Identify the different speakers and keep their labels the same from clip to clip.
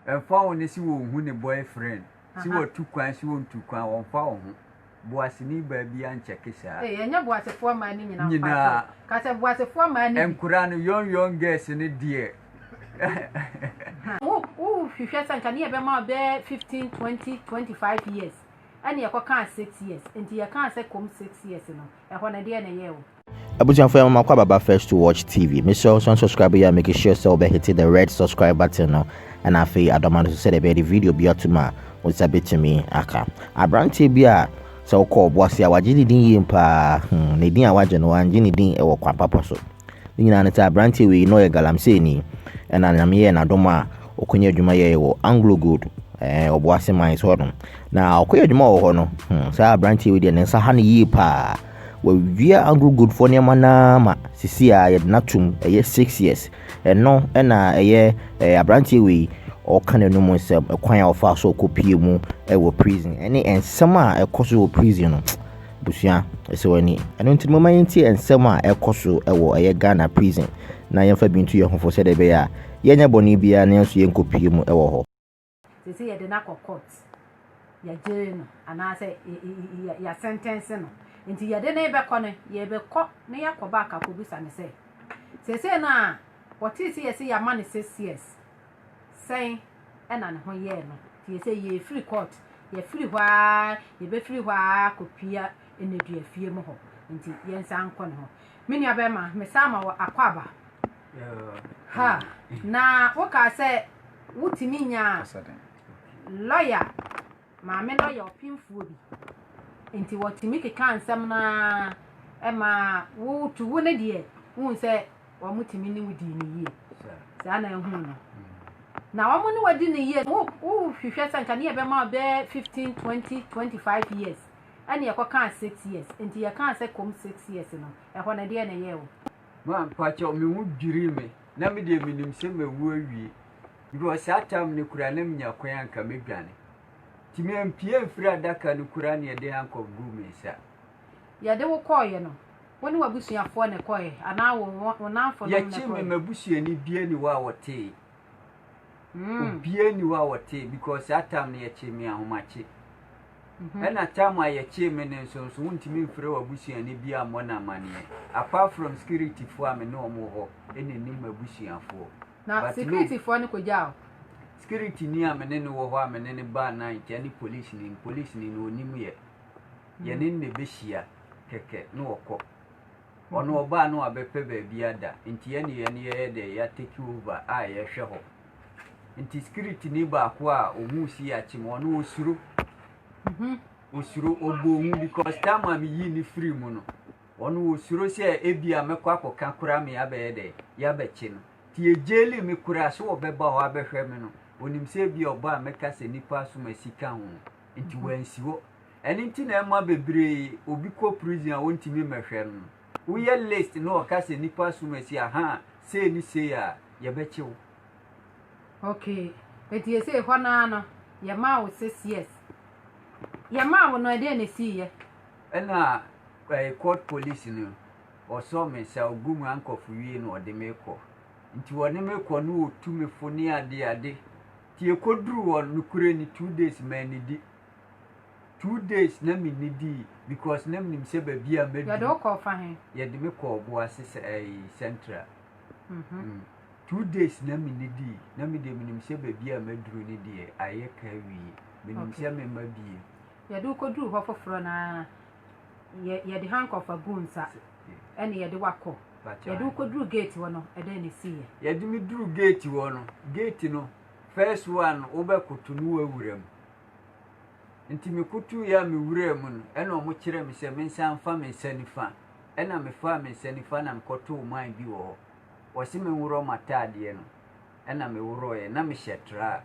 Speaker 1: Ɛmfa ho ne se wɔnhu ne boyfriend, se watu kwan se ɔntu kwan, ɔmfa wo ho. Boaseni baa biaa nkyɛke saa. Ei ɛnyɛ boasefoɔ mmaa
Speaker 2: no nyinaa mpakyɛw ka sɛ boasefoɔ mmaa no bi. Nkora no young
Speaker 1: young girls no deɛ. Wo
Speaker 2: hwehwɛ sɛ nka ne yɛ bɛma wo bɛɛ 15, 20, 25 years ɛne yɛkɔ kaa 6 years nti yɛ kaa sɛ kom 6 years no ɛhɔ no deɛ na ɛyɛɛ wo. Abusuafo yɛma makɔ
Speaker 3: ababa first to watch TV. Mesrɛ wo sɛ unsubscribe yɛ a make sure sɛ wobɛhete the red subscribe button no ɛna afei adɔma no so sɛdeɛ ɛbɛyɛ de video bi atom a wo nsa bɛtumi aka. Aberanteɛ bi a sɛ wokɔ ɔbo ase a wagye ne din yie paa hmm, ne din a wagye no wangye ne din wɔ kwan papa so. Ne nyinaa ne sɛ aberanteɛ wei na ɔyɛ galamseeni ɛna nyame yɛɛ n'adom a ɔkɔnya adwuma yɛɛ wɔ Anglo Gold eh, ɔbo ase mines hɔ no na ɔkɔyɛ adwuma wɔ hɔ no hmm, saa aberanteɛ wei deɛ ne nsa ha no yie paa Wɔawia agogofoɔ nneɛma no ara ma seesei ara yɛde no atom, ɛyɛ six years. Ɛno na ɛyɛ ɛɛ aberanteɛ wei ɔreka n'anum nsɛm, ɛkwan a ɔfaa so ɔkɔpue mu wɔ prison ne nsɛm a ɛkɔ so wɔ prison no. Abusua, ɛsɛ w'ani. Ɛno nti no, momma yɛntie nsɛm a ɛkɔ so wɔ ɛyɛ Ghana prison na yɛmfa bi ntu yɛn ho fo sɛdeɛ ɛbɛyɛ a yɛnyɛ bɔne biara nanso yɛnkɔpue mu wɔ hɔ. Seesei yɛde
Speaker 2: no akɔ court, yɛagyere no anaasɛ yɛasɛntɛnse no. Nti yɛde no rebɛkɔ no, yɛbɛkɔ na yɛakɔ back akɔbisa no sɛ, seesei no a ɔtee sɛ yɛse yɛama no six years, sɛn na ne ho yɛɛ no? Nti yɛse yɛrefiri court, yɛafiri hɔ ara, yɛbɛfiri hɔ ara akɔpia nneduafie mu hɔ. Nti yɛnsan nkɔ ne hɔ. Me nuabarima, mesan ma wo akwaaba. Ha, na wokaa sɛ wotumi nyaa lɔya, maame lɔya ɔpemfoɔ bi. Nti wɔtumi kekaa nsɛm no ara ɛma wotu wo no deɛ wohu sɛ wɔtumi ne wo dii no yie. Saa na ɛhu no. Na wɔn ne wadi no yie no wohwehwɛ sɛ nka ne yɛbɛma wo bɛɛ 15, 20, 25 years ɛne yɛkɔkaa 6 years. Nti yɛkaa sɛ kom 6 years no, ɛhɔ no deɛ na ɛyɛɛ wo. Mampakyɛw,
Speaker 1: me ho dwirii me. Ná me deɛ minim sɛ mawu awie. Mewɔ saa tam no koraa na minya kwan a anka medwane. Nti mampue amfiri adaka no koraa na yɛde handcuff guu me nsa. Yɛde wo
Speaker 2: kɔeɛ no, wo ne w'abusuafoɔ na ɛkɔeɛ anaa wo nnamfonom na ɛkɔeɛ? Yɛkyee me, m'abusuani
Speaker 1: biara nni hɔ a ɔtee. Obiara nni hɔ a ɔtee because saa time no yɛkyee me ahomakye. Mm-hmm. Ɛna time a yɛkyee me no nso nso wontumi mfrɛ w'abusuani bi ammɔ no amanneɛ. Apart from securityfoɔ a me ne wɔn wɔ hɔ ɛna ɛnim m'abusuafoɔ. Na securityfoɔ
Speaker 2: no kɔgyaa wo? Security ni
Speaker 1: a me ne no wɔ hɔ a me ne no baa night ɛne police ni police ni na ɔnim yɛ. Yɛne no na ɛbɛhyia kɛkɛ na ɔkɔ. Ɔno ɔbaa no abɛpɛ baabi ada nti yɛne yɛne yɛyɛ dɛ ya take over a yɛhwɛ hɔ nti security ni baako a ohun si akyem ɔno osuro osuro ɔbɔ hu because time a meyii ne firi mu no ɔno osuro sɛ ebi a mɛkɔ akɔka kora me abɛyɛ dɛ yɛabɛkye no nti yɛgyeli me kora sɛ ɔbɛba hɔ abɛhwɛ me no onim sɛ ebi a ɔba a mɛka sɛ nipa asom asika ho nti wansi hɔ Ɛno nti na ɛma bebree obi kɔ prison a ontumi mmɛhwɛ no. Woyɛ list na ɔka sɛ nipa asom asi ahaa sei ne sei a, yɛbɛkye wo.
Speaker 2: Okay enti esei hɔ no ara no yɛmaa wo six years. Yɛmaa wo no ɛdeɛn na esiiɛ? Ɛna
Speaker 1: ɛɛ court police no ɔsɔ me sa ogu mu ankɔfo wie na ɔde me kɔ. Nti ɔne me kɔ no otu me fo ne ade ade. Nti yɛkɔduru hɔ no nokorɛ ni two days mannidi. Two days na me ni dii because na menim sɛ baabi a mɛdu. Yɛde wo kɔɔ fa he? Yɛde
Speaker 2: me kɔɔ Boase
Speaker 1: sɛ ɛyi eh, central. Mm -hmm. mm. Two days na me ni dii na me deɛ menim sɛ baabi a mɛduru ne deɛ ayɛ ka awie. Menim okay. sɛ mema bie. Yɛde wo kɔduru hɔ
Speaker 2: foforɔ na yɛde handcuff agu nsa ɛne yɛde wakɔ. Yɛde wo kɔduru gate hɔ no ɛdɛn na ɛsiiɛ? Yɛde me duru gate
Speaker 1: hɔ no gate no first one wobɛkoto no wawura mu. Enti mekotooeɛ a mewuraa mu no, ɛnna wɔkyerɛɛ me sɛ mensan mfa me nsa nifa. Ɛnna mefaa me nsa nifa na mekɔtoo man bi wɔ hɔ. Wɔse menworɔ m'ataadeɛ no, ɛnna meworɔeɛ, na mehyɛ tra a,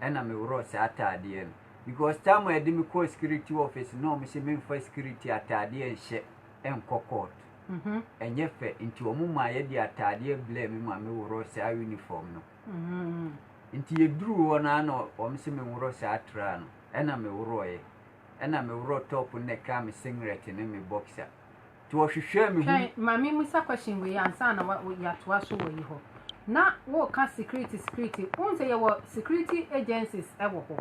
Speaker 1: ɛnna meworɔɔ saa ataadeɛ no. Because time a yɛde me kɔɔ security office no na wɔse memfa security ataadeɛ nhyɛ nkɔ court. Ɛnyɛ fɛ, enti wɔmaa yɛde ataadeɛ blɛɛ me ma meworɔɔ saa uniform no. Nti yɛduruu hɔ no ara na wɔm se menworɔ saa atraa no, ɛna meworɔɔeɛ. Ɛna meworɔɔ top no na ɛkaa me singlet ne me boxer. Nti wɔhwehwɛɛ
Speaker 2: me ho. Twɛn
Speaker 1: ma
Speaker 2: me mmisa question wei
Speaker 1: ansa
Speaker 2: na yɛatoa so
Speaker 1: wɔ yi
Speaker 2: hɔ. Na woreka security security, wohu sɛ yɛwɔ security agencies wɔ hɔ.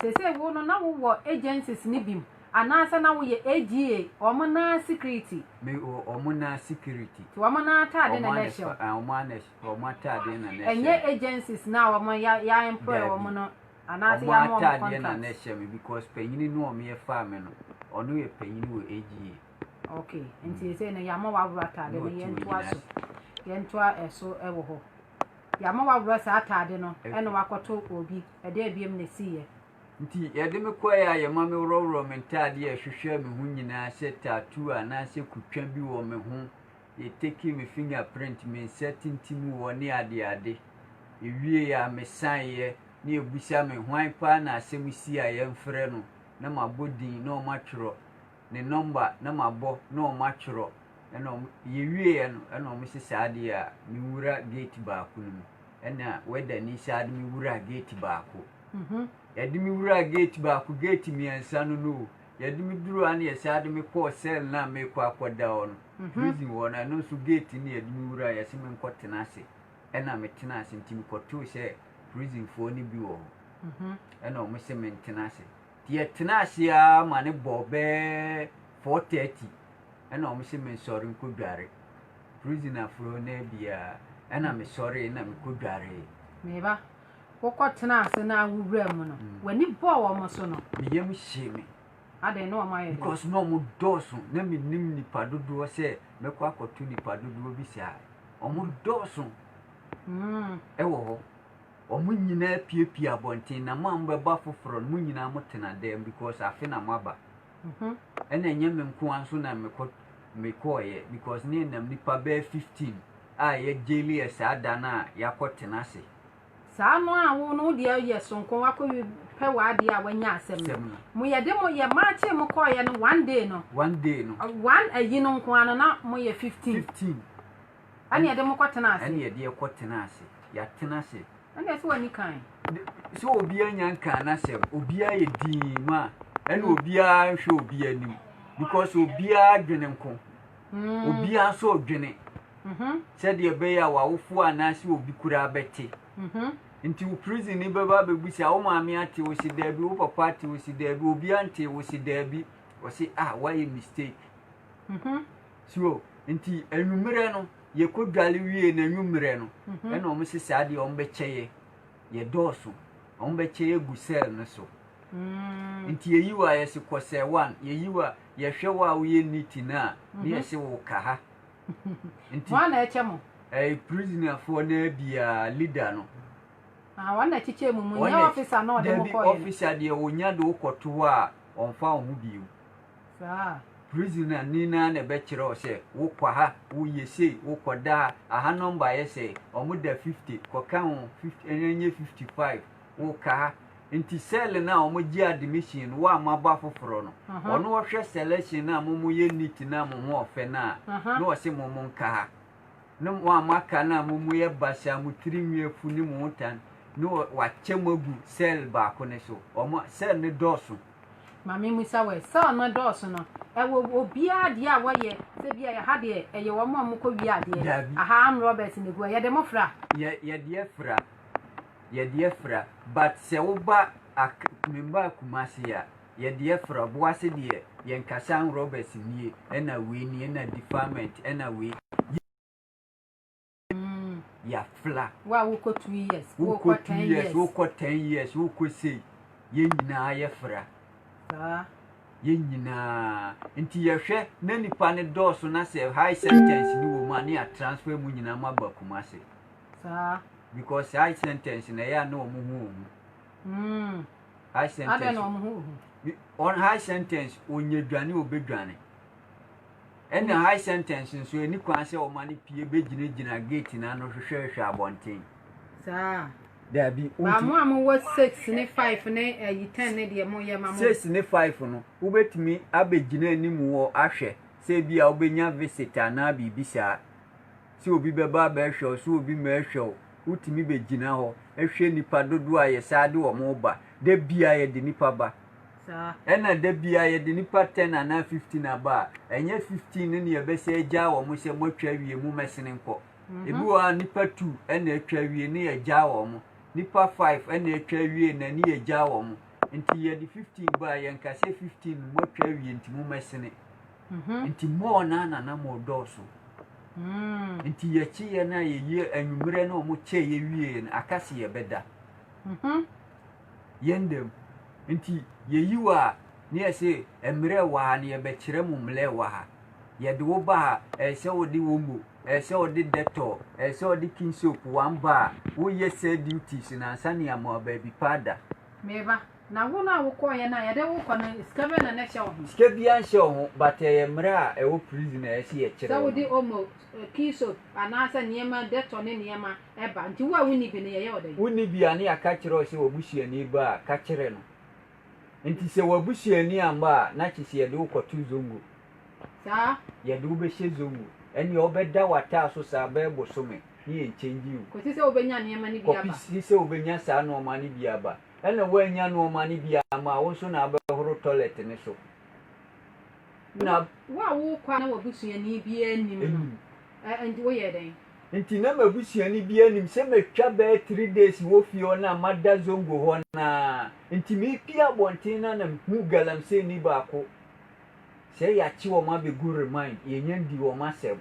Speaker 2: Seesei wo no na wowɔ agencies no bi mu anaasɛ na woyɛ AGA, wɔn nan security? Me wɔn
Speaker 1: nan security. Nti wɔn nan ataade
Speaker 2: na na ɛhyɛ wo? Wɔn ara na ɛhyɛ me. Wɔn
Speaker 1: ataadeɛ na na ɛhyɛ me. Ɛnyɛ agencies na
Speaker 2: wɔn ya ya employ wɔn no anaasɛ ya ma wɔn contract. Wɔn ataadeɛ na na ɛhyɛ me
Speaker 1: because panyini no wɔn yɛ faa me no, ɔno yɛ panyini wɔ AGA. Okay, nti sɛ
Speaker 2: no yama wawura ataade no yɛn to aso, yɛn to ɛso ɛwɔ hɔ. Yama wawura saa ataade no ɛna wakɔto obi ɛde abiem na esi yɛ. Nti yɛde
Speaker 1: me kɔ yɛ a yɛma me worɔworɔ me ntaadeɛ ɛhwehwɛ me ho nyinaa sɛ tattoo anaasɛ kutwa bi wɔ me ho. Me takee me finger print me nsa tintim wɔ ne adeade. Ewiee a me saeɛ ne abusa me hwan paa na asɛm si a yɛn frɛ no na ma bɔ din na ɔma twerɔ, ne number na ma bɔ na ɔma twerɔ ɛna ɔmo yɛ wieɛ no ɛna ɔmo se saa deɛ a me nwura gate baako no mu ɛna wɛda ni saa de me wuraa gate baako yɛde me wuraa gate baako gate mmiɛnsa no no o yɛde me duruu a na yɛsaa de me kɔɔ cell no a mekɔ akɔda hɔ no. Prison hɔ no ɛno nso gate no na yɛde me wuraeɛ yɛse me nkɔ tena ase ɛna me tenaa ase nti me kɔtoo sɛ prison foɔ no bi wɔ hɔ ɛna ɔmo se me ntena ase nti yɛ tenaa ase aa ma no bɔɔ bɛɛ 4:30 ɛna ɔmo se me nsɔre nkɔ dware prison aforɔ no biaa ɛna me sɔree na me kɔ dwaree. Me ba,
Speaker 2: wo kɔ tenaa ase na wo wura mu no, w'ani bɔɔ ɔmo so no? Me yam hyee me.
Speaker 1: Adɛn na wɔayɛ
Speaker 2: dɛn? Because na wɔdɔɔso,
Speaker 1: na mennim nnipa dodoɔ sɛ mɛkɔ akɔto nnipa dodoɔ bi saa. Wɔdɔɔso mm. wɔ hɔ. Wɔn nyinaa piepie abɔnten, na mo a mobɛbɔ afoforɔ no, mo nyinaa motena dɛm because afe na moaba. Mhm. Ɛna ɛnyɛ me nko ara nso na mekɔ mekɔɔyɛ because ne nam nnipa bɛyɛ 15 a yɛgyeli yɛ saa da no a yɛakɔtena ase. Saa no a
Speaker 2: wo no wo deɛ yɛ soronko wakɔ wi pɛ w'adeɛ a wanya asɛm no Sɛm no. mo yɛ de mo yɛ marchee mo kɔɔyɛ no one day no One day no, ɔ- one ayi no nko ara no na mo yɛ fifteen 15 ɛne yɛde mo kɔ tena ɛne ase yɛde ɛkɔ tena ase.
Speaker 1: Yɛatena ase. ɛne ɛsɛ w'ani kan
Speaker 2: De- Sɛ obiara
Speaker 1: nya nkaa n'asɛm, obiara yɛ dinn ma a, ɛna obiara nhwɛ obiara anim because obiara dwene nko. Obiara nso redwene sɛdeɛ ɛbɛyɛ a w'awofoɔ anaasɛ obi koraa bɛte. Nti wo prison ni bɛba abɛbu sɛ, wo maame ate, wo se daabi, wo papa ate, wo se daabi, obiara nte, wo se daabi. Wɔse, ah, woayɛ mistake. So, nti anwummerɛ no, yɛkɔdwale wie no anwummerɛ no, ɛna wɔn se saa deɛ wɔbɛkyɛ yɛ, yɛdɔɔso, wɔbɛkyɛ yɛ agu cell no so. Nti yɛyi wo a, yɛse kɔ sɛ one. Yɛyi wo a, yɛhwɛ wo a woyɛ neat no a, ne yɛse wo ka ha. Nti.
Speaker 2: Hwan na ɛkyɛ mo? Ɛyɛ prisonerfoɔ
Speaker 1: no ara biara, leader no. Ah, wɔn na
Speaker 2: ɛkyekyɛ mu mu, nyɛ officer na ɔde mo kɔɛ no. Dabi, officer deɛ ɔnya de wo
Speaker 1: kɔto hɔ a, ɔmfa wo ho bio. Saa.
Speaker 2: Prisoner ni
Speaker 1: no ara na ɛbɛkyerɛ wo sɛ, wo kɔ ha, wo yɛ sei, wo kɔ da ha, aha number yɛ sɛɛ, wɔn da 50, kɔ kan wɔn 50, ɛnyɛ 55, wo kaa nti cell no a ɔmo gye admission no wo a moabɔ afoforɔ no ɔno ɔhwɛ selection no a mo mo yɛ neat no a mo ho ɔfɛ no a na ɔse mo mo nkaa ne mo a moaka no a mo mo yɛ basa a mo tiri nwi afu ne mo ho tan ne wakyɛ mo agu cell baako no so ɔmo cell no dɔɔso Mame musa
Speaker 2: wɔ cell no dɔɔso no ɛwɔ obiara deɛ a wɔyɛ sɛ bi a ɛha deɛ ɛyɛ wɔn a wɔkɔ wie adeɛ aha amrɔbɛs na egu a yɛde mo fra yɛ yɛdeɛ fra.
Speaker 1: Yɛde afira but sɛ woba ak memba Kumasi a yɛde afira boase deɛ yɛn kasan rɔbɛs nie ɛna wei nie ɛna defilement ɛna wei yɛ mm yafla Wo a wokɔ two
Speaker 2: years, wokɔ wokɔ two ten years years.
Speaker 1: wokɔ ten years wokɔ sei yɛn nyinaa yɛfira Saa. yɛn nyinaa nti yɛhwɛ na nipa no dɔɔso na sɛ high sentence no wɔ mu a ne yɛ transfer mu nyinaa mo aba Kumasi. Saa. Because saa eye sentence na ɛyɛ a na wɔn ho ohu. Mm. Eye sentence. Adɛn
Speaker 2: na wɔn ho ohu? On high
Speaker 1: sentence onye dwane obedwane. Ɛna mm. high sentence nso ɛni kwan sɛ wɔn ani pie begyinagyina gate na ano hwehwɛhwɛ abɔnten.
Speaker 2: Saa. Dabi.
Speaker 1: Baamu a mo wɔ
Speaker 2: six ne five ne ɛyi eh, ten ne deɛ mo yɛ ma mo. Six ne five no
Speaker 1: wobɛtumi abɛgyina anim wɔ ahwɛ sɛ ebi a wobɛnya visit anaa biribi saa. sɛ obi bɛba abɛhwɛ wo, sɛ obi mma ɛhwɛ wo, wotumi bɛgyina hɔ hwɛ nnipa dodoɔ a yɛsan de wɔn ba. Da biara yɛde nnipa ba. Ɛna da biara yɛde nnipa ten anaa fifteen aba a, ɛnyɛ fifteen no na yɛbɛsɛ agyaa wɔn sɛ moatwa awie mommɛsene nkɔ. Ebi wɔ hɔ a nnipa two na atwa awie na yɛagyaa wɔn. Nnipa five na atwa awie na ne yɛagyaa wɔn. Nti yɛde fifteen ba a, yɛnka sɛ fifteen no moatwa awie nti mommɛsene. Mhm. Nti mall no na na mall dɔɔso. Mm. Nti yɛkyeeɛ no a yɛyie anwummerɛ no ɔmo kyɛɛ yɛwieɛ no aka se yɛbɛda. Mhm. Yɛn dam. Nti yɛyi wɔ a ne yɛ se mmerɛ wɔ ha no yɛbɛkyerɛ mo mmerɛ wɔ ha. Yɛde wo ba ha ɛyɛ sɛ wode omo, ɛyɛ sɛ wode dettol, ɛyɛ sɛ wode king soap one bar. Woyɛ saa duties no ansa ne yɛama wo baabi pa ada. Meba.
Speaker 2: Na wo no a wo kɔɔyɛ no a yɛde wo kɔ no sika bɛn na na ɛhyɛ wo ho? Sika biara nhyɛ wo ho
Speaker 1: but ɛyɛ mmara a ɛwɔ prison a ɛse yɛkyerɛ wo no. Sɛ wode omo,
Speaker 2: key soap anaa sɛ nneɛma dettol ne nneɛma ɛba nti wo a wonni bi no yɛyɛ wo dɛn? Wonni bi a ne yɛaka
Speaker 1: kyerɛ wo sɛ w'abusuani ba a ka kyerɛ no nti sɛ w'abusuani amma a na kyese yɛde wo kɔto zongo. Saa?
Speaker 2: Yɛde wo bɛhyɛ
Speaker 1: zongo ɛneɛ wo bɛda w'ataa so saa bɛɛ bosome ne yɛn change wo. Kɔsi sɛ wo bɛnya nneɛma
Speaker 2: no bi aba. Kɔpisi sɛ wo bɛnya saa
Speaker 1: nnoɔma no bi aba. Ɛna woannya nnoɔma no bi amma a, wo nso na abɛhoro tɔlɛt no so. Na. Wo a worekɔ
Speaker 2: a na w'abusuani biara nnim no, ɛnti woyɛɛ dɛn? Nti na m'abusuani
Speaker 1: biara nnim sɛ matwa bɛyɛ three days wɔ fie hɔ no a mada Zongo hɔ no ara. Nti merepue abɔnten no a na mehuu galamseyni baako sɛ yɛakye wɔn abɛgu remand, yɛnnya ndi wɔn asɛm.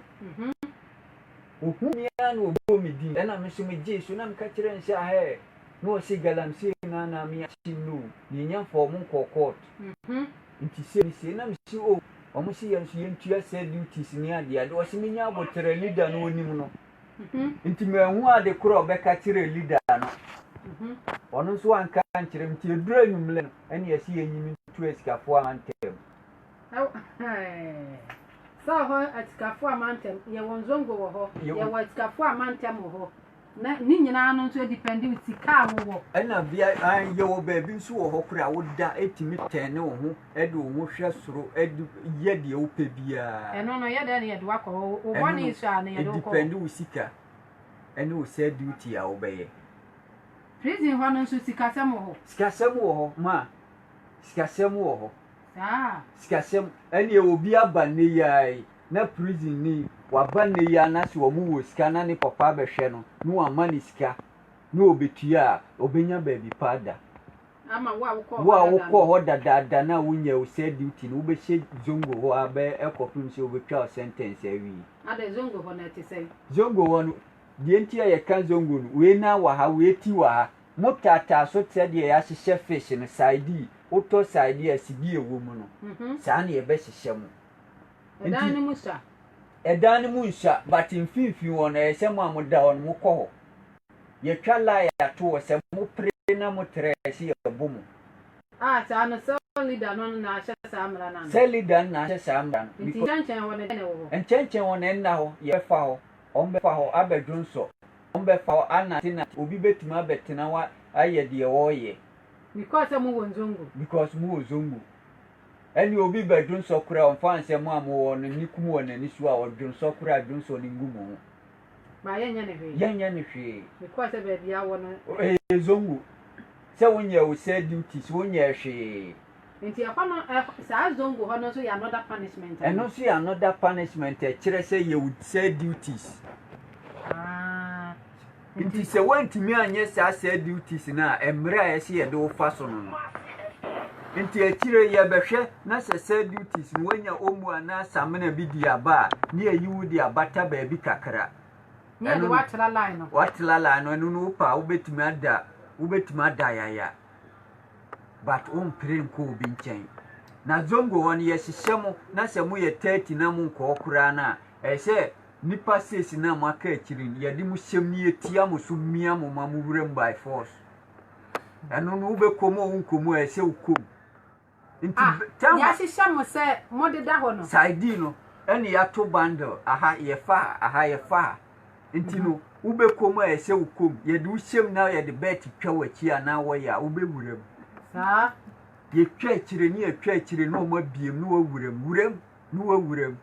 Speaker 1: Ɔhuu me ara na ɔbɔɔ me din, ɛna me nso megyee so na meka kyerɛɛ no sɛ, Ahɛɛ. na ɔse galamsey no a na me akyim no o yɛnya mfa ɔmo nkɔɔ court nti sei ne sei na me se o ɔmo se yɛn nso yɛn tua cell duties ne ade ade ɔse me nya aboterɛ leader no onim no nti manhu ade korɔ a ɔbɛka kyerɛ leader no ɔno nso anka nkyerɛ me nti edura nwumlɛ no ɛne ɛse yɛnyi me ntu asikafo a mantɛm sɛ hɔ atikafo a mantɛm yɛwɔ nzongo
Speaker 2: wɔ hɔ yɛwɔ atikafo a mantɛm wɔ hɔ Na ne nyinaa no nso depende wo sika a wowɔ. Ɛna bia
Speaker 1: yɛwɔ baabi nso wɔ hɔ koraa woda tumi tɛne wo ho de wo ho hwɛ soro de yɛ deɛ wopɛ biara. Ɛno no yɛdɛn na yɛde
Speaker 2: wakɔ hɔ wo bɔne nso a na yɛde wokɔ hɔ. Depende wo sika
Speaker 1: ɛne wo sɛ duty a wobɛyɛ. Prison
Speaker 2: hɔ no nso sikasɛm wɔ hɔ. Sikasɛm wɔ hɔ ma
Speaker 1: sikasɛm wɔ hɔ. Saa. Sikasɛm
Speaker 2: ɛneɛ obi
Speaker 1: aba nnɛ yi ara yi. na prison ni waba nnɛ yi a na sɛ wɔn wɔ sika na ne papa abɛhwɛ no na wama no sika na ɔbɛtua a ɔbɛnya baabi pa ada.
Speaker 2: Wo a wokɔɔ
Speaker 1: hɔ dadaada no a wonyɛɛ wo cell duty no wobɛhyɛ Zongo hɔ ara bɛyɛ ɛkɔpem sɛ wɔbɛtwa wo sentence awie. Adɛn
Speaker 2: Zongo hɔ no ɛte sɛn? Zongo hɔ
Speaker 1: no deɛ nti a yɛka Zongo no wei nan wɔ ha wei ti wɔ ha mo taataa so te sɛdeɛ yɛahyehyɛ fish no side yi wotɔ side yi a sibie wɔ mu no saa na yɛbɛhyehyɛ mo. Ɛdan no mu sua. Ɛdan no mu nsua, but mfimfini hɔ no, ɛyɛ sɛ mo a moda hɔ no, mokɔ hɔ. Yɛtwa line ato hɔ, sɛ mopere na motrɛ a, ɛse yɛbo mo. A, saa no, cell leader no na ahyɛ saa mmara
Speaker 2: no anaa? Cell leader no na ahyɛ saa
Speaker 1: mmara no. Nti nkyɛnkyɛn hɔ no, dɛn na
Speaker 2: ɛwɔ hɔ? Nkyɛnkyɛn hɔ no, ɛnna hɔ.
Speaker 1: Yɛbɛfa hɔ, wɔbɛfa hɔ abɛdwonsɔ, wɔbɛfa hɔ anantenante. Obi bɛtumi abɛtena hɔ ayɛ deɛ ɔreyɛ. Because sɛ mowɔ
Speaker 2: Zongo. Because mowɔ Zongo. Ɛne obi bɛ dwonsɔ
Speaker 1: kora ɔnfa nsɛm a mo wɔ no nni kum wɔ nani so a ɔdwonsɔ kora a dwonsɔ no ngu mo ho. Ba yɛ
Speaker 2: nyɛ no hwee. Yɛ nyɛ no hwee. Me kɔɔ sɛ baabi a wɔ no. Ɛyɛ zongo.
Speaker 1: Sɛ wo nyɛɛ wo cell duties wo nyɛɛ hwee. Nti ɛhɔ no saa
Speaker 2: zongo hɔ no nso yɛ another punishment anaa. Ɛno nso yɛ another
Speaker 1: punishment ɛkyerɛ sɛ yɛ wo cell duties. Haa. Nti sɛ woantumi anyɛ saa cell duties no a, mmerɛ a ɛse yɛde wo fa so no no nti akyire yɛbɛhwɛ na sɛ cell duties no woanya omu anaa samina bi di aba a ne yɛyi wo de abata baabi kakra na
Speaker 2: yɛde wo atra line no watra line no
Speaker 1: ɛno no wo pɛ a wobɛtumi ada wobɛtumi ada yaya but wompere nkɔ obi nkyɛn na zongo hɔ no yɛhyehyɛ mo na sɛ moyɛ 30 na monkɔɔ koraa no a ɛyɛ sɛ Nipa seesi no a mo aka akyiri no yɛde mo hyɛm no yɛtia mo so mia mo ma mo wuram by force ɛno no wobɛkɔ mu a wonkɔ mu a ɛsɛ wokɔ mu nti ah, tell me yɛahyehyɛ
Speaker 2: mo sɛ modeda hɔ no side no
Speaker 1: ɛne yɛato bundle aha yɛfa aha yɛfa nti no mhm. wobɛkɔ mu a ɛsɛ wokɔ mu yɛde wo hyɛm na yɛde bɛt twa w'akyi anaa wɔyɛ a wobɛwura mu saa
Speaker 2: yɛtwa
Speaker 1: akyire ne yɛtwa akyire ne ɔma biem ne wawura mu wura mu ne wawura mu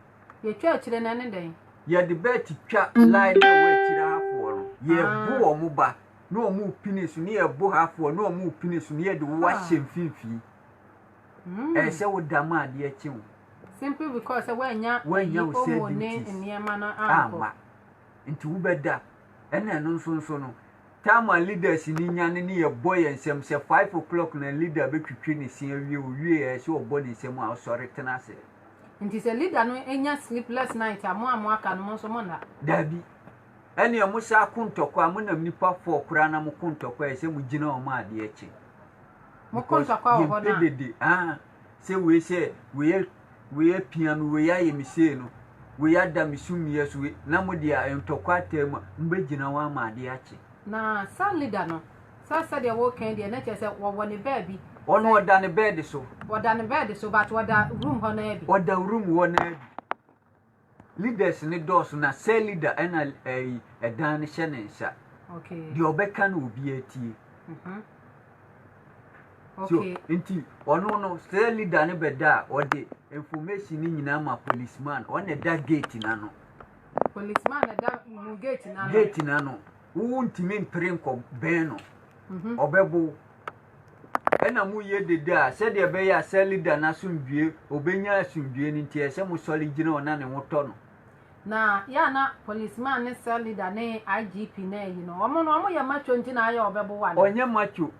Speaker 1: Yɛtwa
Speaker 2: akyire no ɛne dɛn? Yɛde bɛɛte
Speaker 1: twa line no a ɛwɔ akyire ha foɔ no, yɛbo wɔn ba na wɔn repini so na yɛbo ha foɔ na wɔn repini so na yɛde wo ahyɛ mfimfini. Ɛyɛ sɛ wo da ma adeɛ kye wo. Simply
Speaker 2: because sɛ wɔanya
Speaker 1: wɔanya
Speaker 2: wo sɛ ne nneɛma
Speaker 1: no
Speaker 2: amma.
Speaker 1: Nti wobɛda. Ɛna ɛno nso nso no, time a leaders ni nyane ne yɛbɔ yɛn nsɛm sɛ five o'clock na leader bɛtwitwi ne se awie, owie ɛyɛ sɛ ɔbɔ ne nsam a ɔsɔre tena ase. Nti sɛ
Speaker 2: leader no nya sleepless night a mo a mo aka no mo nso mo nna. Dabi.
Speaker 1: Ɛneɛ mo saa ko ntɔkwa mo nam nipa four koraa na mo ko ntɔkwa yɛ sɛ mo gyina wɔn adeɛ akyi. Mo ko
Speaker 2: ntɔkwa wɔ hɔ na. Yɛn pɛ dede ah
Speaker 1: sɛ wei sɛ wei yɛ wei yɛ pia mi wei ayɛ mi sei no wei ada mi so mia so wei na mo deɛ ntɔkwa ataa mu a mo bɛ gyina wɔn ama adeɛ akyi. Na saa leader
Speaker 2: no Sɛ sɛdeɛ woreka yi deɛ na kyerɛ sɛ wɔwɔ ne baabi. Ɔno ɔda ne bed
Speaker 1: so. Ɔda ne bed so
Speaker 2: but ɔda room hɔ naa bi. Ɔda room hɔ naa bi.
Speaker 1: Leaders ne dɔɔso na cell leader ɛna ɛyi ɛdan no hyɛ ne nsa. Okay. Deɛ ɔbɛka
Speaker 2: no obi
Speaker 1: atie. Mhm.
Speaker 2: Okay. So nti
Speaker 1: ɔno no cell leader no bɛda a ɔde information no nyinaa ma policeman ɔna ɛda gate n'ano. Policeman
Speaker 2: ɛda mu gate n'ano. Gate n'ano.
Speaker 1: Wontumi mpere nkɔbɛn no, mhm. ɔbɛbo wo. Ɛna moyɛ dede a sɛdeɛ ɛbɛyɛ a Sɛlida no asomdwoe, ɔbɛnya asomdwoe no nti, ɛsɛ mosɔre gyina hɔ na ne ho tɔ no. Na yɛ
Speaker 2: na policeman ne cell leader ne IGP na ayi no. Wɔn no wɔn yɛ macho nti na ayɛ ɔbɛbo wa no. Ɔnyɛ macho.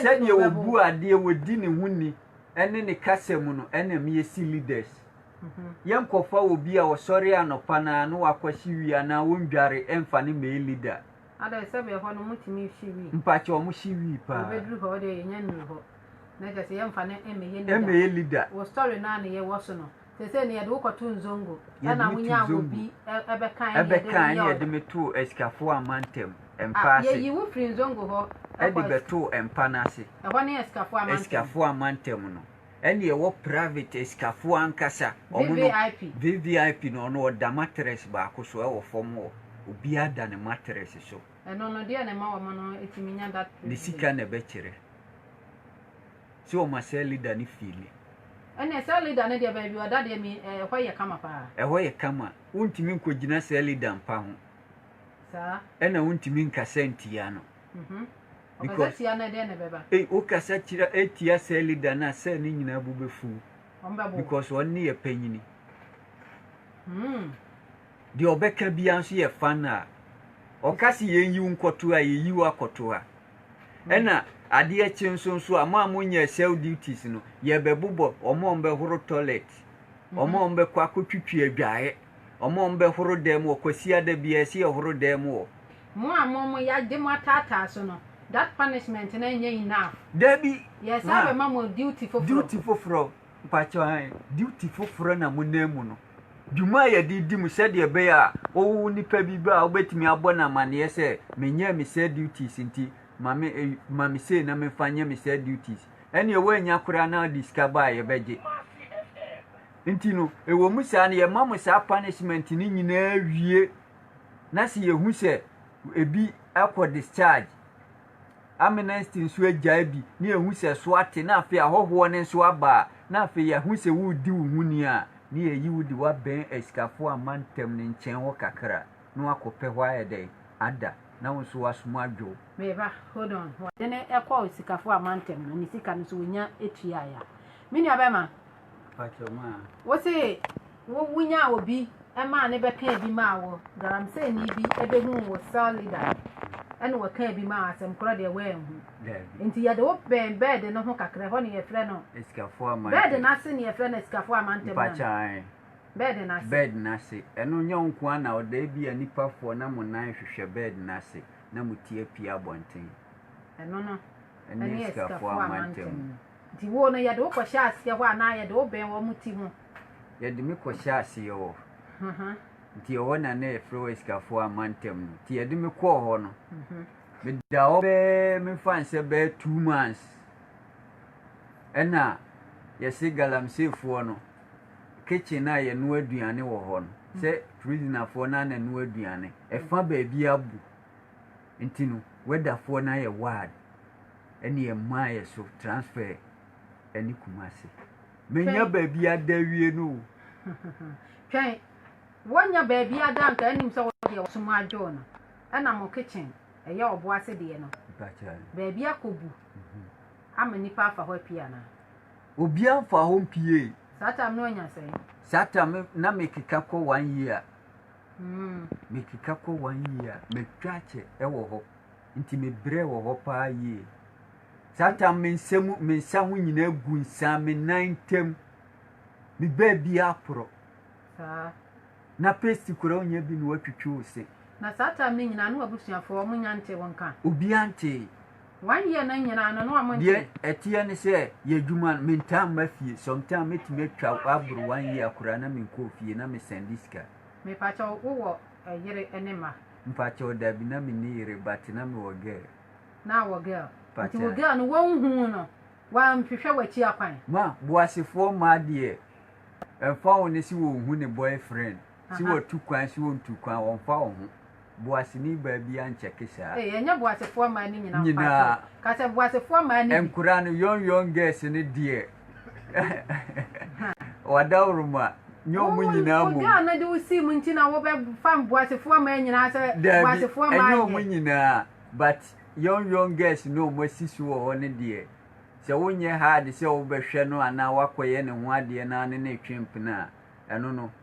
Speaker 2: Sɛdeɛ ɔbu adeɛ,
Speaker 1: ɔdi ne ho ni, ne ne kasa mu no ɛna me yɛsi leaders. Yɛnkɔfa obi a ɔsɔre anɔpa no ara na wakɔ hye wi anaa ɔndware ɛmfa no mmɛyɛ leader. Adɛn sɛ bɛhɔ
Speaker 2: no motumi hye wi? Mpakyɛ ɔmo hye wi
Speaker 1: paa. Ɔbɛduru hɔ ɔdeɛ yɛnya
Speaker 2: nnuru hɔ. Na kyerɛ sɛ yɛmfa no mmɛyɛ leader. Mmɛyɛ leader.
Speaker 1: Wɔ story no a ne
Speaker 2: yɛwɔ so no Sese no yɛde wo kɔto nzongo ɛna wonya obi ɛbɛka
Speaker 1: ɛne yɛde reyɛ ɔda. Yɛde me too asikafoɔ amantam mpa ase. Yɛyi wo firi nzongo hɔ.
Speaker 2: Ɛde bɛtoo
Speaker 1: mpa no ase. Ɛhɔ ne asikafoɔ amantam.
Speaker 2: Asikafoɔ amantam no.
Speaker 1: Ɛne ɛwɔ private asikafoɔ ankasa. VVIP. VVIP no ɔno ɔda mattress baako so ɛwɔ fam hɔ. Obiara da ne mattress so. Ɛno no deɛ na ɛma
Speaker 2: wɔn no tumi nya that privilege. Ne sika na ɛbɛkyerɛ.
Speaker 1: Sɛ wɔn ma cell leader no feeli. Ɛneɛ cell leader
Speaker 2: no deɛ baabi ɔda deɛ me ɛhɔ yɛ kama paa. Ɛhɔ yɛ kama.
Speaker 1: Wontumi nkɔgyina cell leader mpa ho. Saa.
Speaker 2: Ɛna wontumi
Speaker 1: nkasa ntia no. Mhm. Ɔkasa
Speaker 2: tia no ɛdeɛ na ɛbɛba. Ei wokasa kyerɛ
Speaker 1: ɛtia cell leader no a cell no nyinaa bo bɛfuw. Wɔn bɛbo. Because wɔn ne yɛ panyini. Hmm. Deɛ ɔbɛka biara nso yɛ fan a. Ɔka se yɛnyi wo nkɔto ha a, yɛyi wo akɔto ha. Ɛna adeɛ kye nso nso a, mo a monyɛɛ cell duties no, yɛbɛbobɔ wɔn a wɔbɛhoro toilet, wɔn a wɔbɛkɔ akɔtwitwi adwaeɛ, wɔn a wɔbɛhoro dan mu wɔ Kwasiada biara, ɛsɛ yɛhoro dan mu wɔ. Mo a mo mo
Speaker 2: yɛagye mo ataataa so no, that punishment no ɛnyɛ enough. Dabi, ma. Yɛsan
Speaker 1: bɛma mo
Speaker 2: duty foforɔ. Duty foforɔ,
Speaker 1: mpakyɛw ae, duty foforɔ na monam mu no. dwuma a yɛde di mu sɛdeɛ ɛbɛyɛ a wowo nipa bi ba a wobɛtumi abɔ no amanneɛ sɛ menyɛɛ me saa duties nti ma me eh, ma me sei na memfa nyɛ me saa duties ɛneɛ woannya koraa na wode sika ba a yɛbɛgye nti no ɛwɔ mu saa no yɛma mo saa punishment no nyinaa wie na sɛ yɛhu sɛ ebi akɔ discharge Amnesty nso agyae bi na yɛahu sɛ so ate na afei ahɔhoɔ no nso aba a, na afei yɛahu sɛ woredi wo ho ni a, na yɛayi wo de wo abɛn asikafoɔ a mma ntam no nkyɛn hɔ kakra na woakɔpɛ hɔ ayɛ dɛn? ada, na wo nso w'asom adwo wo. Me ba,
Speaker 2: hold on, wɔde no kɔɔ asikafoɔ a mma ntam no ne sika no nso wɔnya tuaeɛ a, me nuabarima,
Speaker 1: wo se
Speaker 2: wo wonya obi ɛmaa ne bɛka bi maa wo galamsey ni bi ɛbɛhu wo cell leader ɛna wɔka bi maa asɛm korɔ deɛ wɔanhu nti yɛde wo bɛn bɛɛde no ho kakra hɔ ne yɛfrɛ no bɛɛde no
Speaker 1: ase ne yɛfrɛ no
Speaker 2: asikafoɔ amantɛm no
Speaker 1: bɛɛde no ase bɛɛde no ase ɛno nyɛ wo nko ana ɔda bi a nipafoɔ na mo nan hwehwɛ bɛɛde no ase na mo ti apia abɔnten ɛno no
Speaker 2: ɛne asikafoɔ
Speaker 1: amantɛm no Diwo no,
Speaker 2: yɛde wo kɔhyɛ aseɛ hɔ anaa yɛde wo bɛn wɔn ti ho? Yɛde me
Speaker 1: kɔhyɛ aseɛ hɔ. Nti ɛhɔ na na yɛfrɛ hɔ Asikafoɔ Amantam no. Nti yɛde me kɔɔ hɔ no, meda hɔ bɛɛ memfa nsɛ bɛɛ two months. Ɛna yɛse Galamseyfoɔ no kitchen a yɛnoa aduane wɔ hɔ no, sɛ prisonerfoɔ no ara na ɛnoa aduane, ɛfa baabi abu. Nti no weather foɔ no ayɛ wad ɛne yɛ maa yɛ so transfer ɛne kumase menya baabi ada wie no o twɛn
Speaker 2: wonya baabi ada nka anim sɛ wodeɛ wɔsom adwoo no ɛna mo kitchen ɛyɛ ɔbo ase deɛ no baabi akɔbu mhm. ama nipa afa hɔ apue anaa obi
Speaker 1: amfa hɔ mpie saa tam
Speaker 2: no anya
Speaker 1: sɛe saa
Speaker 2: tam
Speaker 1: na
Speaker 2: mekeka
Speaker 1: kɔ one year Metwitwa kɔ wɔn yie a, metwa kyɛ wɔ hɔ. Nti mebrɛ wɔ hɔ paa yie. Saa tam me nsa mu me nsa ho nyinaa gu nsa me nan ntam. Me baabi aporɔ. Saa. Na paste koraa onyɛ bi na watwitwi wo se. Na saa tam no
Speaker 2: nyinaa na w'abusuafoɔ wɔn nya ntee wo nka? Obiara ntee.
Speaker 1: Wayɛ no
Speaker 2: nyinaa no na wɔn Deɛ ɛteɛ ne sɛ
Speaker 1: yɛ adwuma no mentaa mma fie sometime mɛtumi atwa aboro one year koraa na menkɔɔ fie na mesɛnde sika. Mepakyɛ wo
Speaker 2: wowɔ yere ne mma. Mpakyɛ wo dabi
Speaker 1: na menni yere but na mewɔ girl. Na awɔ girl
Speaker 2: nti wo girl no wonhuu no wanhwehwɛ wakyi akwan. Ma boasefoɔ
Speaker 1: mmaa deɛ ɛmfa ho ne se wɔnhu ne boyfriend. Si Aha. wɔtu kwan, si wɔntu kwan, wɔmfa wɔn ho. Boaseni baa bi ankyɛke saa. Ei, ɛnyɛ boasefoɔ
Speaker 2: mmaa no nyinaa Nyinaa. mpakyɛw. Ka sɛ boasefoɔ mmaa no bi. Nkora no, young young
Speaker 1: girls no deɛ, wadaworo ma, nyɛ wɔn Wo- nyinaa wo mmom. girl no de wo sii mu nti
Speaker 2: na wobɛfa boasefoɔ mmaa nyinaa sɛ Daabi, boasefoɔ mmaa ɛnyɛ wɔn nyɛ. nyinaa,
Speaker 1: but young young girls no a wɔasi so wɔ hɔ no deɛ, sɛ wonyɛ hard sɛ wobɛhwɛ no anaa woakɔyɛ ne ho adeɛ na ne ne retwe mpena a, ɛno no,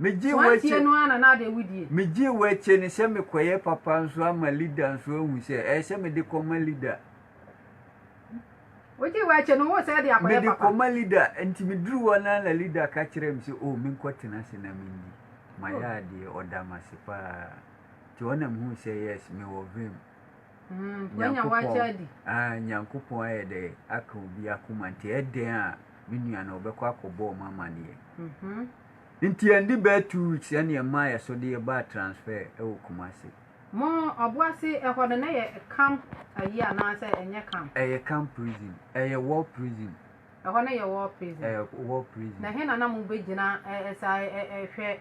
Speaker 1: Megyee w'akyi no ara na
Speaker 2: na ade awudie. Megyee w'akyi no
Speaker 1: sɛ mekɔyɛ papa nso ama Lida nso ahu sɛ ɛyɛ sɛ mede kɔma Lida.
Speaker 2: Wogyee w'akyi no wo sɛ de akɔyɛ papa. Mede kɔma Lida
Speaker 1: nti meduru hɔ no ara na Lida ka kyerɛɛ me sɛ o oh, menkɔtena ase na mendi. Mayɛ oh. adeɛ ɔda me ase paa nti ɔna mehuu sɛ yes mewɔ vim.
Speaker 2: Nyankopɔn ayɛ
Speaker 1: dɛ aka obi akoma nti ɛdɛn a me nua no ɔbɛkɔ akɔbɔ ɔmo amaneɛ. Nti ɛnde bɛɛ two weeks ɛne ɛmaa yɛso de yɛbaa transfer ɛwɔ Kumasi. Mo
Speaker 2: Ɔboase ɛhɔ no na ɛyɛ camp ayi anaa sɛ ɛnyɛ camp? Ɛyɛ camp prison,
Speaker 1: ɛyɛ war prison. Ɛhɔ no yɛ
Speaker 2: war prison? Ɛyɛ war prison. Na ɛhe
Speaker 1: na na mo bɛgyina
Speaker 2: ɛsan ɛhwɛ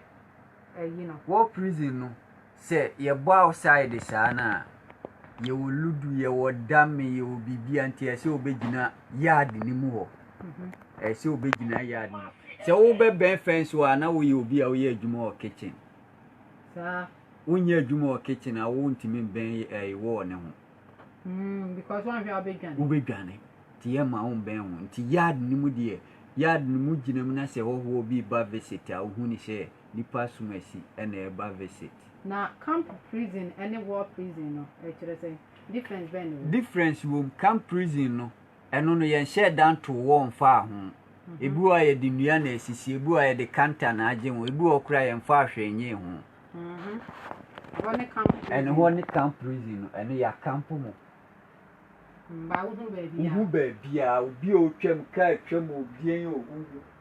Speaker 2: ayi no? War prison no
Speaker 1: Sɛ yɛbɔ outside saa no a, yɛwɔ ludu, yɛwɔ dame, yɛwɔ biribia nti ɛsɛ sɛ wobɛgyina yard no mu hɔ. Ɛsɛ sɛ wobɛgyina yard no. Sɛ wobɛbɛn fence hɔ a na woyɛ obi a woyɛ adwuma wɔ kitchen.
Speaker 2: Saa. Wonyɛ adwuma
Speaker 1: wɔ kitchen a wontumi mbɛn ɛyi wall no ho. Mm, because
Speaker 2: wɔnhwɛ a wobɛdwane. Wobɛdwane.
Speaker 1: Nti yɛma wombɛn ho. Nti yard no mu deɛ, yard no mu gyina mu na sɛ hɔhoɔ bi ba visit a wohu ne sɛ nipa asumasi na ɛba visit. Na camp prison ne war prison no ɛkyerɛ sɛn? Difference
Speaker 2: bɛn na ɛwɔ mu? Difference wɔ mu, camp
Speaker 1: prison no ɛno no yɛnhyɛɛ da ntoo wɔɔ mfaa ho, ebi wɔ hɔ a yɛde nnua na asisi, ebi wɔ hɔ a yɛde kanta na agye ho, ebi wɔ hɔ koraa a yɛnfaa hwee nyee ho.
Speaker 2: Ɛhɔ ne camp prison. Ɛne hɔ ne camp
Speaker 1: prison no ɛno yɛ akampo mo.
Speaker 2: Mba wohu baabiaa. Wohu baabiaa,
Speaker 1: obi a ɔtwam, kaa twam o, deɛn o, wohu.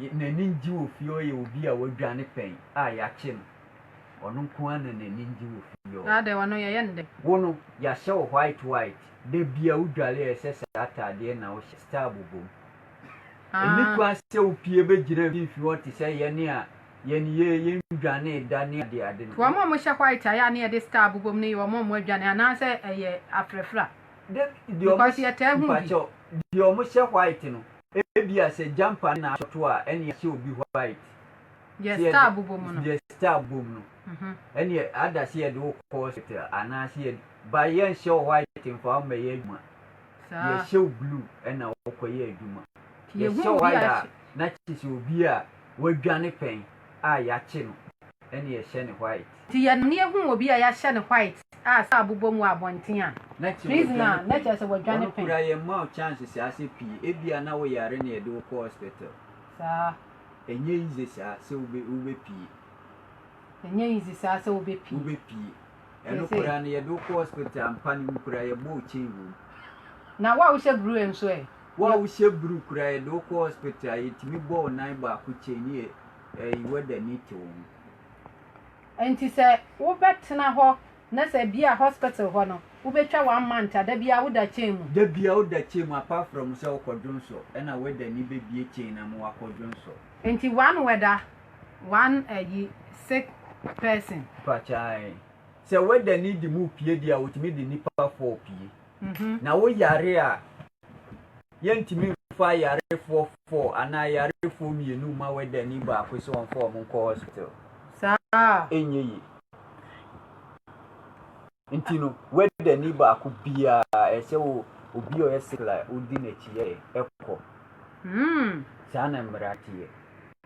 Speaker 1: Yɛ n'ani ngye wɔ fie hɔ yɛ obi a wadwane pɛn a y'akye no. Ɔno nko ara na n'ani ngye wɔ fie hɔ. Saa de, ɔno yɛyɛ no dɛ.
Speaker 2: Wo no, y'ahyɛ
Speaker 1: wo white white. Da biara wo dware a ɛsɛ saa ataadeɛ na wo hyɛ, style bobom. Nni kwan sɛ wo pie bɛ gyina mfimfini hɔ te sɛ yɛne a yɛn yɛ yɛn dwanee da ne ade ade no. Wɔn a wɔhyɛ white
Speaker 2: a ɛyɛ a na yɛde style bobom no yɛ wɔn a wɔadwane anaa sɛ ɛyɛ afrafra. Dabi, deɛ wɔn hyɛ, mpakyɛw,
Speaker 1: deɛ wɔn hyɛ white no Ebia sɛ Jampa na ato a, ɛnneɛ hyɛ obi white. Deɛ
Speaker 2: star bobɔ mu no. Deɛ star bobɔ mu no.
Speaker 1: Ɛnneɛ ada sɛ yɛde wo kɔ hospital anaasɛ yɛde ba yɛnhyɛ wo white mfa wo mmɛyɛ adwuma. Yɛhyɛ wo blue ɛna wokɔyɛ adwuma. Yɛhyɛ wo white a na kyerɛ sɛ obi a wadwane pɛn a yɛakye no ɛna yɛhyɛ no white. Nti yɛn ani ehu
Speaker 2: obi a yɛahyɛ no white a saa bobɔ mu wɔ abɔnten a, prisoner a, na kyerɛ sɛ wadwane pɛn. Wɔn kura yɛn mma wo chances
Speaker 1: saa sɛ pii ebia na wo yare na yɛde wo kɔ hospital. Saa.
Speaker 2: Ɛnyɛ easy
Speaker 1: saa sɛ wo bɛ wo bɛ pie. Ɛnyɛ
Speaker 2: easy saa sɛ wo bɛ pie. Wo bɛ pie. Ɛno kura
Speaker 1: no yɛde wo kɔ hospital
Speaker 2: ampa
Speaker 1: no mu
Speaker 2: kura
Speaker 1: yɛbɔ wo
Speaker 2: chain
Speaker 1: wɔ mu. Na wo a wohyɛ
Speaker 2: bruu
Speaker 1: nso
Speaker 2: ɛ?
Speaker 1: Wo a wohyɛ bruu kura yɛde wo kɔ hospital a yɛtumi bɔ wo nan baako chain ne yɛ ɛyi wɛda ni te wo ho.
Speaker 2: Nti sɛ wo bɛ tena hɔ na sɛ bia hospital hɔ no wo bɛ twa one month a da bia wo da chain mu. Da bia wo da chain
Speaker 1: mu apart from sɛ wo kɔ dwonsɔ ɛna wɛda ni bɛ bie chain na mo akɔ dwonsɔ. Nti one
Speaker 2: wɛda one ayi sick person. Mpakyɛ ae
Speaker 1: sɛ wɛda ni de mo pie deɛ a otumi de nipa four pie na wo yare a. yɛntumi mfa ayarefoɔ four anaa ayarefoɔ mmienu mma wɛdani baako sɛ wɔmfa wɔn nkɔ hospital saa
Speaker 2: ɛnyɛ
Speaker 1: yie nti no wɛdani baako biara ɛsɛ wɔ obi a ɔyɛ sikla odi n'akyi yɛ ɛkɔ saa na mmara teɛ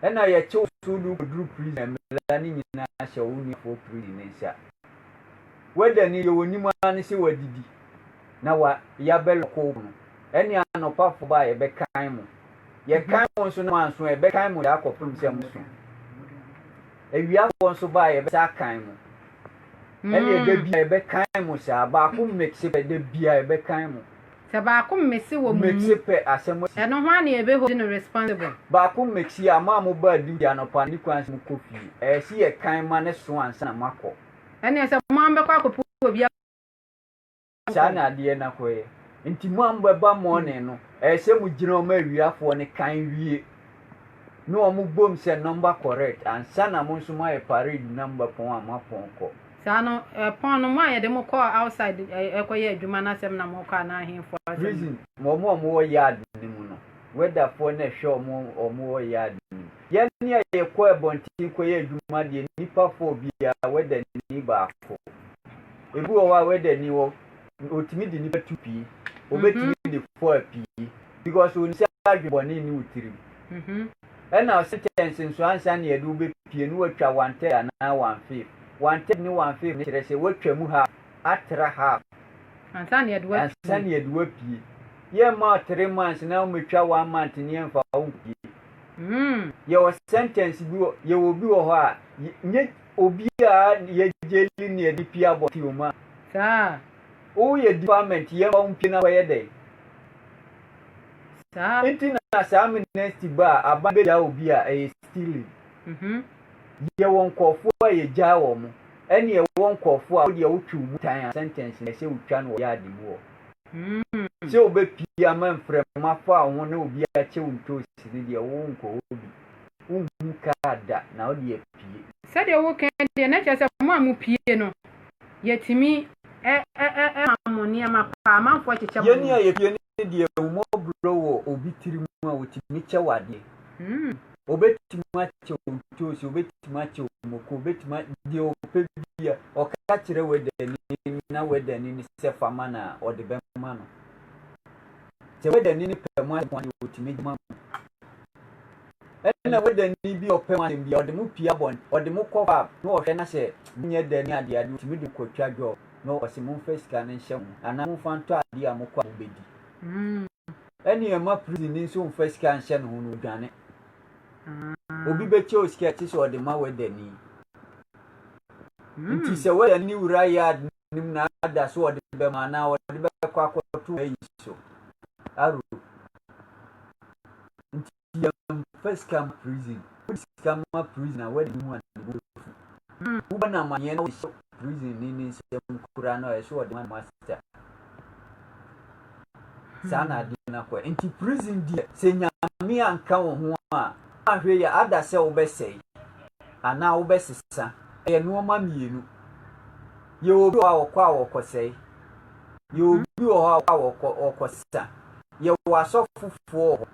Speaker 1: ɛna yɛkyew so de wokɔduru prison mmara no nyinaa hyɛ wo nuafoɔ prison ne nsa Weda ni yɛ wɔnim ara ne sɛ wɔadidi na wɔayɛ abɛlɔkoo po no. Ɛne anɔpafo ba a yɛbɛkan mo. Yɛkan mo nso na moanso a, yɛbɛkan mo de akɔpem sɛ moso. Awiafoɔ nso ba a yɛbɛsa akan mo. Ɛne ɛda bi a yɛbɛkan mo saa, baako mix pɛ, da bi a yɛbɛkan mo. Sɛ baako mmesi
Speaker 2: wɔ mo mu,
Speaker 1: ɛno hwan na yɛbɛ hold
Speaker 2: no responsible? Baako mmesi
Speaker 1: a, mo a mo baa duty anɔpa no, ne kwan sɛ mo kɔ fie. Ɛyɛ se yɛ kan ma ne so ansa na mo akɔ. Ɛneɛ sɛ mo ara
Speaker 2: mo bɛkɔ akɔ pu obi a mo
Speaker 1: nkɔ. Saa na adeɛ no akɔ yɛ. Nti mo a mo bɛba morning no, ɛyɛ sɛ mo gyina wɔn awiafoɔ no kan wie. ne wɔn bom sɛ number correct ansa na mo nso moayɛ parade na moba pɔn a moapɔn kɔ. Saa no pɔn
Speaker 2: no mo a yɛde mo kɔɔ outside ɛkɔyɛ adwuma no asɛm na moka anaa ahenfoɔ asɛm? Prison wɔn
Speaker 1: a wɔwɔ yard no mu no weather foɔ na ɛhwɛ wɔn a wɔwɔ yard no mu. Yɛn a yɛkɔ abɔnten kɔyɛ adwuma deɛ nnipa four biara weather ni baako. Ebi wɔ hɔ a weather ni hɔ otumi de nipa tu pii obetumi mhm. de fɔa pii because onim sɛ adwebɔne ne wo tirim mhm. ɛna sentence nso ansa ne yɛde wobɛpie ne watwa one third anaa one fifth one third ne one fifth ne kyerɛ sɛ watwa mu half atra half
Speaker 2: ansa ne yɛde wapie yɛmma
Speaker 1: three months na womɛtwa one month ne yɛmfa wompie hmm. yɛwɔ sentence bi yɛwɔ bi wɔ hɔ a Obi a yɛ gyeli ne yɛde pie abɔ te omu a. Saa.
Speaker 2: Wo yɛ
Speaker 1: department yɛ mfa wo mpie na kɔyɛ dɛn?
Speaker 2: Saa. Nti na saa
Speaker 1: amnesty ba a aban bɛ gyaa obi a ɛyɛ stealing. Mhm. Yɛ wɔ nkɔɔfoɔ a yɛ gyaa wɔ mo ɛne yɛ wɔ nkɔɔfoɔ a wo deɛ wo twe omu tan a sentence na ɛsɛ wo twa no wɔ yard mu hɔ. Hmm. Sɛ wo bɛ pie ama mfrɛma fa wo ho na obi akyɛ wo ntoosi ne deɛ wo nkɔ hɔ bi. wonhu kaa da na ɔde apue. Sɛdeɛ woka yi
Speaker 2: deɛ na kyerɛ sɛ mo a mo pue no yɛtumi ma mo nneɛma paa amanfoɔ kyekyɛ mo nneɛma. Yɛn a yɛpue no
Speaker 1: deɛ ahummɔborɔ wɔ obi tiri mu a ɔtumi kyɛ wo adeɛ. Ɔbɛtumi akyɛ wo ntoosi, ɔbɛtumi akyɛ wo mako, ɔbɛtumi deɛ ɔpɛ bia ɔka kyerɛ wɛdani na wɛdani no sɛ fa ma no a ɔde bɛma no. Sɛ wɛdani no pɛ mo asɛm a ɔtumi de ma mo. Nna Weda nyi bi a ɔpɛ mo asɛm bi a, ɔdze mo pia bɔn, ɔdze mo kɔ pub na ɔhwɛ na sɛ monnyɛ dɛ nye adze a, adze otumi dze mo kotwa dwɔɔ na ɔse momfa sika no nhyɛ ho anaa momfa ntɔ adze a mokɔ a mobedi. Nna ɛma prizinyi so mmfa sika nnhyɛ no ho na odwane. Obi bɛkyɛ wo sika a ɛtse sɛ ɔdze ma Weda nyi. Ntsi sɛ Weda nyi wura yɛ adze nim na ada so wɔde bɛma anaa wɔde bɛkɔ akɔto ayi so aro nti yɛmfa sika ma prison wode sika ma prison a wadi ne ho a ne bo afu hmm. wobɔ no amanneɛ na wɔhyɛ prison ne ne nsɛm kura no a ɛsɛ wɔde ma master hmm. saa na adeɛ no akɔ nti prison deɛ sɛ nyame anka wo ho a ahwɛ yɛ ada sɛ wobɛsɛe anaa wobɛsesa. Ɛyɛ nnoɔma mmienu. Yɛwɔ obi wɔ hɔ a ɔkɔ a ɔkɔsɛe. Yɛwɔ obi wɔ hɔ a ɔkɔ a ɔkɔ ɔkɔsesa. Yɛwɔ asɔfofoɔ wɔ hɔ.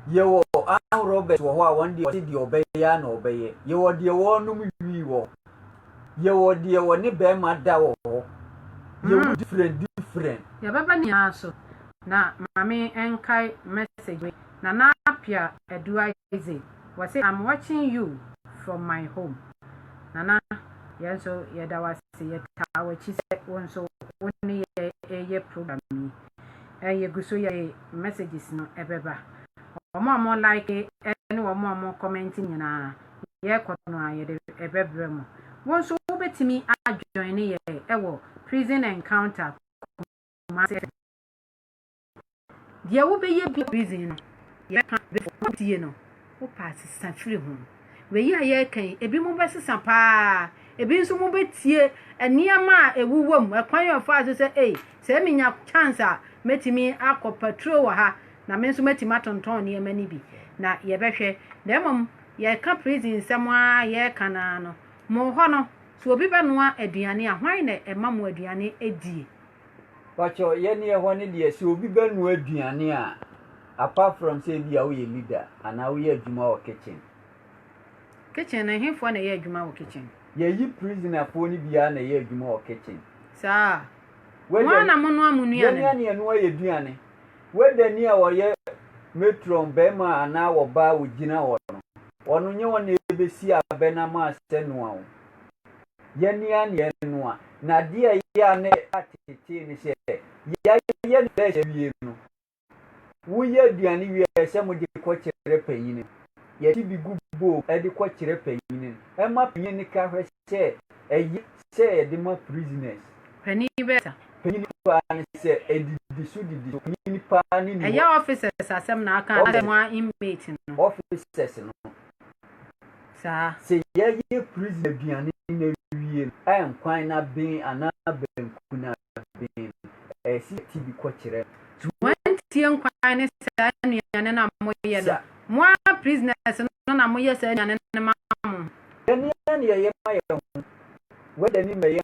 Speaker 1: Yɛwɔ arm robbers wɔ hɔ a wɔn deɛ wɔte deɛ ɔbɛyɛ na ɔbɛyɛ. Yɛwɔ deɛ wɔnom wii wɔ hɔ. Yɛwɔ deɛ wɔne bɛrima da wɔ hɔ. Yɛwɔ hmm. different different. Yɛbɛba
Speaker 2: ne nyinaa so na maame nkae message wei na na apia adu Isaac. Wɔse I'm watching you from my home Nana yɛn nso yɛda wo ase yɛtaa w'akyi sɛ wo nso wo ne yɛn ɛɛyɛ program yi ɛɛ yɛgu so yɛde messages no ɛbɛba wɔn a wɔn like ɛne wɔn a wɔn comment nyinaa yɛkɔ no a yɛde ɛbɛbrɛ mo wo nso wobɛtumi adjoine yɛn ɛwɔ prison encounter Kumasi Deɛ wobɛyɛ bi prison no, yɛka before wotie no, wopɛ a sesa firi ho. Wei yi a yɛreka yi, ebi mo bɛsesa paa, ebi nso mo bɛtie nneɛma a ɛwuwɔ mu, ɛkwan a ɔfaa so sɛ, ei, sɛ menya chance a, mɛtumi akɔ patro wɔ ha, na me nso mɛtumi atontɔn nneɛma no bi, na yɛbɛhwɛ. Na mmom, yɛreka prison nsɛm ara yɛreka no ara no, mo hɔ no, sɛ obi bɛnoa aduane a, hwan na ɛma mo aduane die? Pacho
Speaker 1: yɛ neɛ hɔ ne deɛ sɛ obi bɛ noa aduane a apart from sɛ ebia wo yɛ leader anaa wo yɛ adwuma wɔ kitchen. Kitchen no ɛhefoɔ na
Speaker 2: ɛyɛ adwuma wɔ kitchen. Yɛyi prisoner
Speaker 1: foɔ no biaa na ɛyɛ adwuma wɔ kitchen. Saa.
Speaker 2: Mo ara na mo noa mo nuane no. Yɛne a na yɛnoa yɛ aduane.
Speaker 1: Whether ni a ɔyɛ matron bɛɛma anaa wɔ baa wɔ gyina hɔ no ɔno nyɛ wɔn na ɛbɛ si abɛ na mo asɛ noa wo. yɛanua neɛ no a, na adeɛ a ɛyɛ a na ɛtetee ne sɛ, yɛayɛ no bɛs awie no, woyɛ aduane wie a, ɛsɛ mode kɔkyerɛ panyin no. Yɛte bi gu bowl mu de kɔkyerɛ panyin no. Ɛma panyin no ka hwɛ sɛ ɛyɛ sɛ yɛde ma prisoners.
Speaker 2: Panyin bɛyɛ sa. Panyin paa
Speaker 1: ne sɛ ɛdidi so didi so. Panyin paa ne ni hɔ. Ɛyɛ officers asɛm
Speaker 2: na aka anaasɛ mo ara inmate no? Officers no. saa. Sɛ yɛyɛ
Speaker 1: prison aduane no awie no, ɛyɛ nkwan no aben anaa banku no aben no, ɛyɛ sɛ yɛte bi kɔkyerɛ no. So wɔantie
Speaker 2: nkwan ne saa nnuane no a moyɛ no? Mo ara prisoners no na moyɛ saa nnuane no ma mo. Yɛn ara na
Speaker 1: yɛyɛ ma yɛn ho. W'agya ni ma yɛn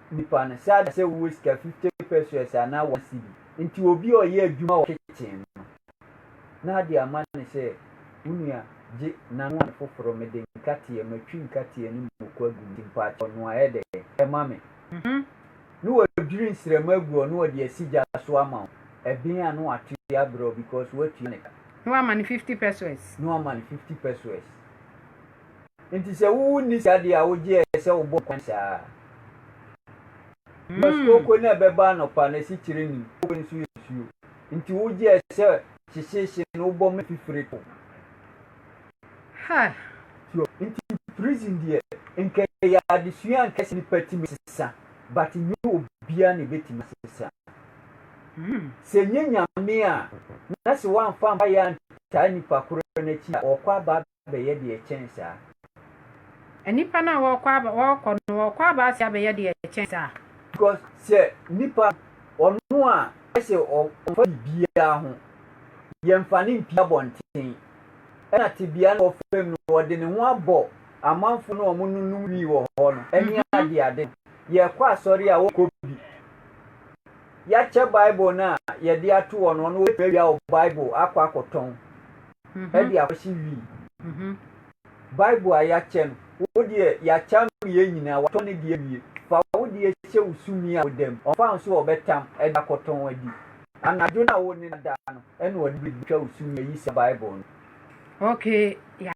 Speaker 1: nipa no saa da sɛ wowɔ sika fifty peseus anaa one cedi nti obi a ɔyɛ adwuma wɔ kitchen no na ade ama no sɛ wo nua gye nanoa me foforo mede nkateɛ matwi nkateɛ ne moko agu mu nti mpakyɛw noa yɛ dɛn ma me na wadwiri nsrɛma agu hɔ na ɔde asi gya so ama wo ɛben a na wato yi abrɛ wo because woatua ne ka. Na wama no fifty
Speaker 2: peseus. Na wama no fifty
Speaker 1: peseus. Enti sɛ wuwu nni saa de a wogye ayɛ sɛ wobɔɔ kwan saa. Mars kooko no a ɛbɛba anɔpa no, ɛse kyerɛ ni, kooko no nso yɛ nsuo. Enti wogye ayɛ sɛ hyehyeehye no wobɔ ma efi firi to. Hɛ!
Speaker 2: So, nti
Speaker 1: prison deɛ, nka ɛyɛ adesua a nka ɛsɛ nipa tumi sesa, but nyɛ obiara na ebetumi asesa. Sɛ nyɛ Nyame a, na se wamfa ampaeɛ antaa nipa korɔ no akyi a, ɔɔkɔ aba abɛyɛ deɛ ɛkyɛn saa.
Speaker 2: Nnipa no a wɔrekɔ aba wɔrekɔ no wɔrekɔ aba ase abɛyɛ deɛ ɛkyɛn saa. Because sɛ
Speaker 1: nipa ɔno a ɛsɛ ɔmfa biribiara ho yɛmfa ne mpie abɔnten ɛna tebea no wɔ fam no ɔde ne ho abɔ amanfo no a wɔnonom wii wɔ hɔ no ɛne ade ade yɛkɔ asɔre a wɔkɔ bi yɛakyɛ bible no a yɛde ato hɔ no ɔno ɔbɛtumi awia wɔ bible akɔ akɔtɔn de akɔhye wii. Bible a yɛakyɛ no, wo deɛ yɛakyɛ ama yɛn nyinaa, watɔ ne deɛ awie. Fa wo deɛ hyɛ wo sumii a woda mu. Ɔmfa nso a ɔbɛtam de akɔtɔn adi. Anadwo no a wo ne no da no, ɛna ɔde bɛtwa wo sumii
Speaker 2: ayi
Speaker 1: saa Bible no. Okay,